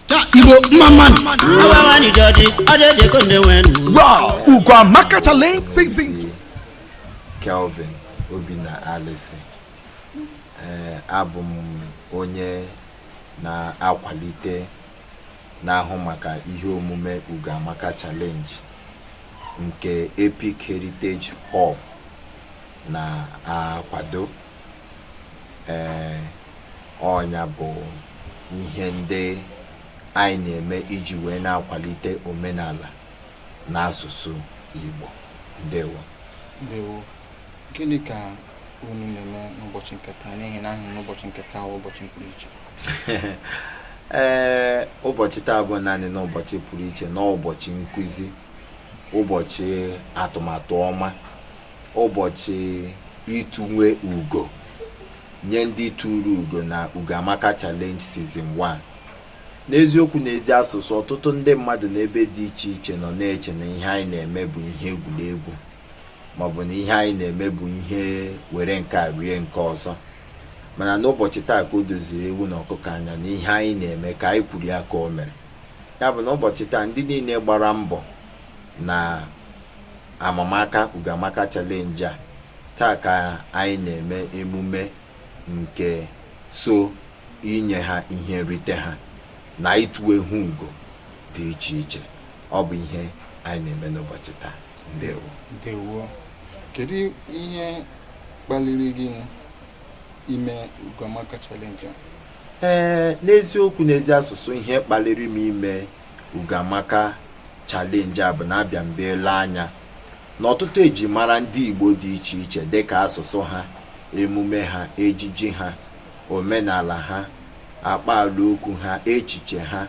Ya Igbo mma mma nụ. Awa nwanyị jọji, ọ dị eji ego nne nwee nụ. Wow, Ugo Amaka Challenge Season 2. Kelvin Obinna Alisi ee abụ m onye na-akwalite na-ahụ maka ihe omume Ugoamaka Challenge nke Epic Heritage Hub na-akwado ee ọ nya bụ ihe ndị anyị na-eme iji wee na-akwalite omenala na asụsụ Igbo ndewo ndewo gịnị ka unu na-eme n'ụbọchị nke taa n'ihi na ahụ na ụbọchị nke taa ụbọchị pụrụ iche ee ụbọchị taa bụ naanị n'ụbọchị pụrụ iche na ụbọchị nkuzi ụbọchị atụmatụ ọma ụbọchị ituwe ugo nye ndị turu ugo na ugo amaka challenge season 1 n'eziokwu na ezi asụsụ ọtụtụ ndị mmadụ n'ebe dị iche iche nọ na-eche na ihe anyị na-eme bụ ihe egwuregwu maọbụ na ihe anyị na-eme bụ ihe were nke a rie nke ọzọ mana n'ụbọchị taa ka o doziri ewu na ọkụkọ anya na ihe anyị na-eme ka anyị kwuru ya ka o mere ya bụ na ụbọchị taa ndị niile gbara mbọ na Amamaka Ugoamaka Challenge a taa ka anyị na-eme emume nke so inye ha ihe nrite ha na ituwe ha ugo dị iche iche ọ bụ ihe anyị na-eme n'ụbọchị taa ndewo ndewo kedu ihe kpaliri gị ime Ugoamaka Challenge a ee n'eziokwu na ezi asụsụ ihe kpaliri m ime Ugoamaka Challenge a bụ na abịa mbe ele anya na ọtụtụ ejimara ndị Igbo dị iche iche dịka asụsụ ha, emume ha, ejiji ha, omenala ha, akpaala okwu ha, echiche ha,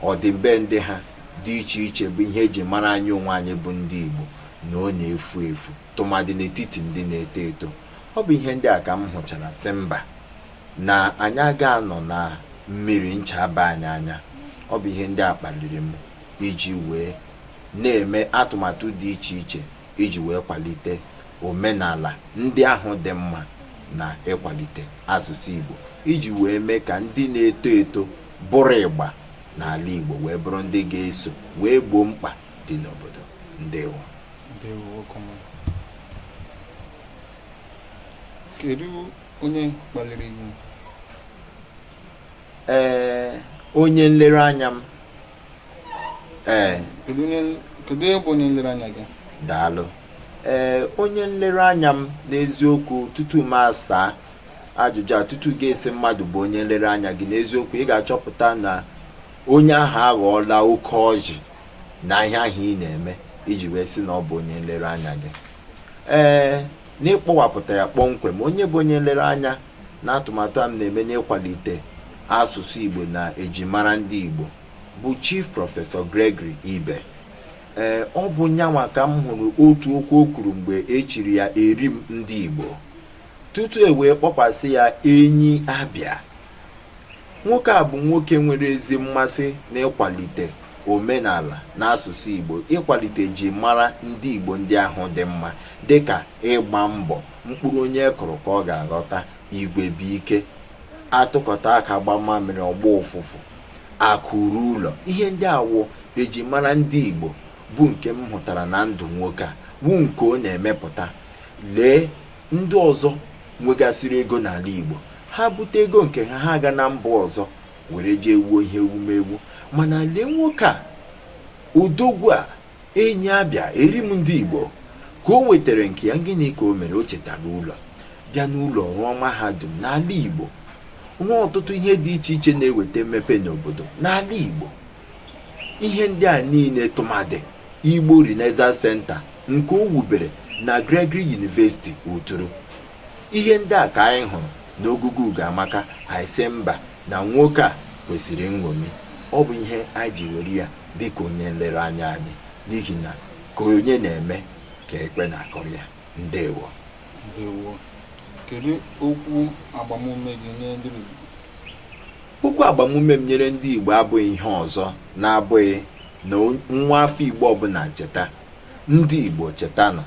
ọdịbendị ha dị iche iche bụ ihe e ji mara anyị onwe anyị bụ ndị Igbo na ọ na-efu efu tụmadị n'etiti ndị na-eto eto ọ bụ ihe ndị a ka m hụchara sị mba na anyị aga anọ na mmiri ncha aba anyị anya ọ bụ ihe ndị a kpaliri m iji wee na-eme atụmatụ dị iche iche iji wee kwalite omenala ndị ahụ dị mma na ịkwalite asụsụ Igbo iji wee mee ka ndị na-eto eto bụrụ ịgba n'ala Igbo wee bụrụ ndị ga-eso wee gboo mkpa dị n'obodo ndewo ndewo kedu onye kpaliri ihu ee onye nlereanya m ee kedu onye kedu onye bụ onye nlereanya gị daalụ ee onye nlereanya m n'eziokwu tutu m asaa ajụjụ a tutu gị asị mmadụ bụ onye nlereanya gị n'eziokwu ị ga-achọpụta na onye ahụ aghọọla oke ọjị n'ihe ahụ ị na-eme i ji wee sị na ọ bụ onye nlereanya gị ee n'ịkpọwapụta ya kpọmkwem onye bụ onye nlereanya n'atụmatụ a m na-eme n'ịkwalite asụsụ igbo na ejimara ndị igbo bụ chief prọfesọ gregory ibe ee ọ bụ nyanwa ka m hụrụ otu okwu o kwuru mgbe e chiri ya eri m ndị igbo tutu e wee kpọkwasị ya enyi abịa Nwoke a bụ nwoke nwere ezi mmasị n'ịkwalite omenala na asụsụ Igbo, ịkwalite eji mara ndị Igbo ndị ahụ dị mma dịka ịgba mbọ, mkpụrụ onye kụrụ ka ọ ga-aghọta, igwe bụ ike, a tụkọta aka gbaa mamịrị ọ gbọọ ụfụfụ, akụ ruo ụlọ. Ihe ndị a wụ eji mara ndị Igbo bụ nke m hụtara na ndụ nwoke a, wụ nke ọ na-emepụta. Lee ndị ọzọ nwegasịrị ego n'ala Igbo ha bute ego nke ha ha aga na mba ọzọ were jee wuo ihe ewumewu mana lee nwoke a odogwu a enyi abịa eri m ndị Igbo ka o nwetara nke ya gịnị ka o mere o chetara ụlọ bịa n'ụlọ rụọ mahadum n'ala Igbo rụọ ọtụtụ ihe dị iche iche na-eweta mmepe n'obodo n'ala Igbo ihe ndị a niile tụmadị igbo renaissance center nke o wubere na gregory university uturu ihe ndị a ka anyị hụrụ n'ogugu ugo amaka anyị sị mba na nwoke a kwesịrị nṅomi ọ bụ ihe anyị ji were ya dịka onye nlereanya anyị n'ihi na ka onye na-eme ka ekwe na-akụrụ ya ndewo ndewo kedu okwu agbamume gị nye ndị Igbo Okwu agbamume m nyere ndị Igbo abụghị ihe ọzọ na-abụghị na nwa afọ Igbo ọbụla cheta ndị Igbo chetanụ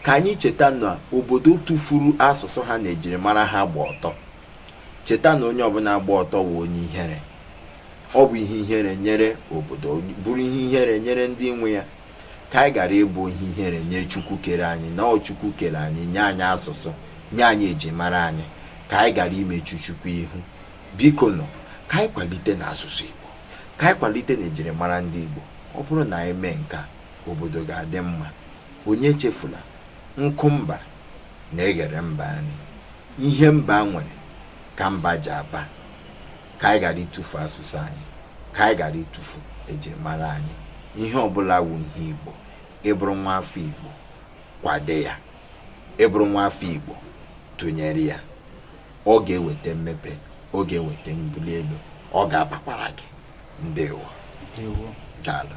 ka anyị cheta na obodo tụfuru asụsụ ha na ejirimara ha gba ọtọ cheta na onye ọbụla gba ọtọ wụ onye ihere ọ bụ ihe ihere nyere obodo bụrụ ihe ihere nyere ndị nwe ya ka anyị ghara ịbụ ihe ihere nye chukwu kere anyị na ọ chukwu kere anyị nye anyị asụsụ nye anyị ejimara anyị ka anyị ghara imechu chukwu ihu bikonụ ka anyị kwalitenụ asụsụ igbo ka anyị kwalitenụ ejirimara ndị igbo ọ bụrụ na anyị mee nke a obodo ga-adị mma onye echefula nkụ mba na-eghere mba nri ihe mba nwere ka mba ji aba ka anyị ghara ịtụfu asụsụ anyị ka anyị ghara ịtụfu ejirimara anyị ihe ọbụla wu ihe igbo ị bụrụ nwa afọ igbo kwado ya ị bụrụ nwa afọ igbo tụnyere ya ọ ga-eweta mmepe ọ ga-eweta mbuli elu ọ ga-abakwara gị ndewo daalụ